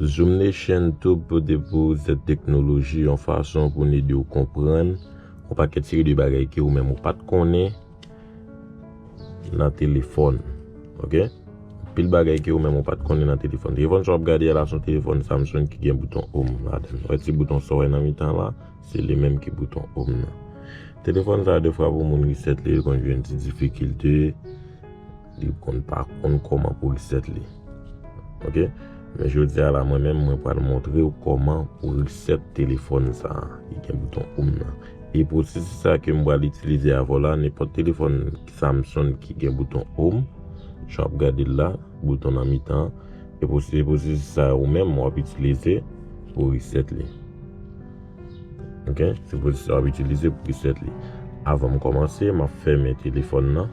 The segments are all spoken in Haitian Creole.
Zoom Nation tou pote pou ou zèt teknoloji yon fason pou n ede ou konprann yon pakèt seri de bagay ke ou menm ou pat konnen. Nan telefòn. Ok. Pil bagay ke ou menm ou pat konnen nan telefòn. Telefòn sa wap gade a la son telefòn Samsung ki gen bouton home ladan li. Wè ti bouton sa w wè nan mitan la, se li menm ki bouton home nan. Telefòn sa defwa pou moun reset li, li konn jwenn ti difikilte. Li konn pa konn koman pou reset li. Ok. Men jodi a la mwen menm mwen pral montre ou koman pou reset telefon sa. Li gen bouton oum nan. E pwosesis sa ke mwen pral itilize avè w la, nenpòt telefon Samsung ki gen bouton oum, jan wap gade l la, bouton nan mitan. E pwosesis sa ou menm wap itilize pou reset li. Ok. Se pwosesis sa wap itilize pou reset li. Avan m komanse, map fèmen telefon nan.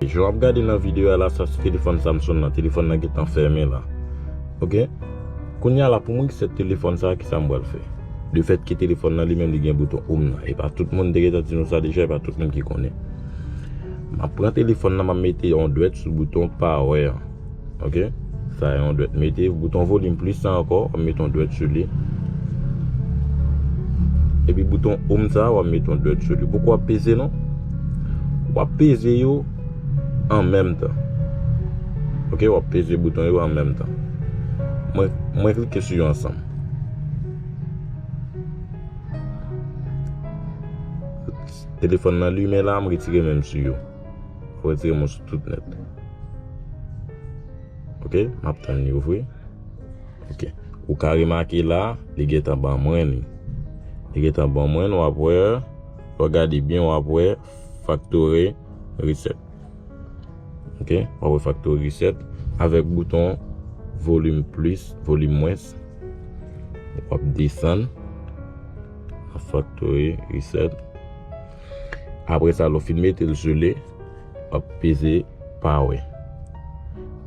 Jan wap gade nan video a la sa se telefòn Samson nan, telefòn nan gentan fèmen la ok kounya la pou mwen ki sèt telefòn sa kisa m pral fè le fèt ke telefòn nan li menm li gen bouton home nan e pa tout moun m te gentan di nou sa deja e pa tout moun ki konnen map pran telefòn nan map mete yon dwèt sou bouton power an. Ok Sa yon dwèt mete bouton volim plis sa ankò wap mete yon dwèt sou li Epi bouton oum sa wap mete yon dwèt sou li Poko wap peze non Wap peze yo an menm tan Ok wap peze bouton yo an menm tan Mwen klike sou yo ansanm Telefòn nan limen la m retire menm sou yo Ou retire mou sou tout net. Ok, map tan li ouvri. Ok, ou ka remake la, li gen tan ban mwen li. Li gen tan ban mwen, wap wè, wap gade byen wap wè, factory reset. Ok, wap wè factory reset, avèk bouton volume plus, volume moins. Wap desan, factory reset. Apre sa lè w fin mete l sele, w ap peze pawe.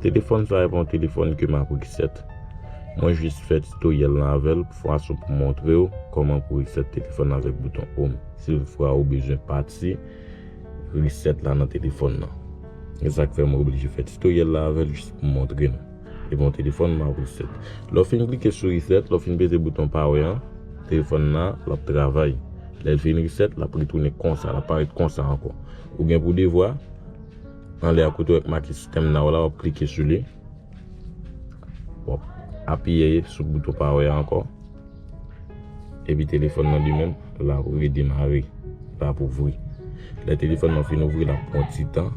Telefòn sa epa yon telefòn ke m ap reset. Mwen jis fè titoryèl lan avè l pou fason pou montre w kòman pou reset telefòn avèk bouton home si tout fwa ou bezwen pati reset la nan telefòn lan. E sa k fè mwen oblije fè titoryèl la avè l jis pou montre nou. E bon telefòn m ap reset. Lè w fin klike sou reset, lè w fin peze bouton power an, telefòn nan l ap travay. Lè l fin reset, l ap retounen konsa, l ap parèt konsa ankò. Ou gen pou devwa, anlè a kote w wè ki make system now la, w ap klike sou li. W ap apiye sou bouton power an ankò. Epi telefòn nan li menm la ap redemare. La ap ouvri. Lè telefòn nan fin ouvri la pran yon ti tan.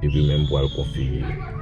Epi menm pou al konfigire li.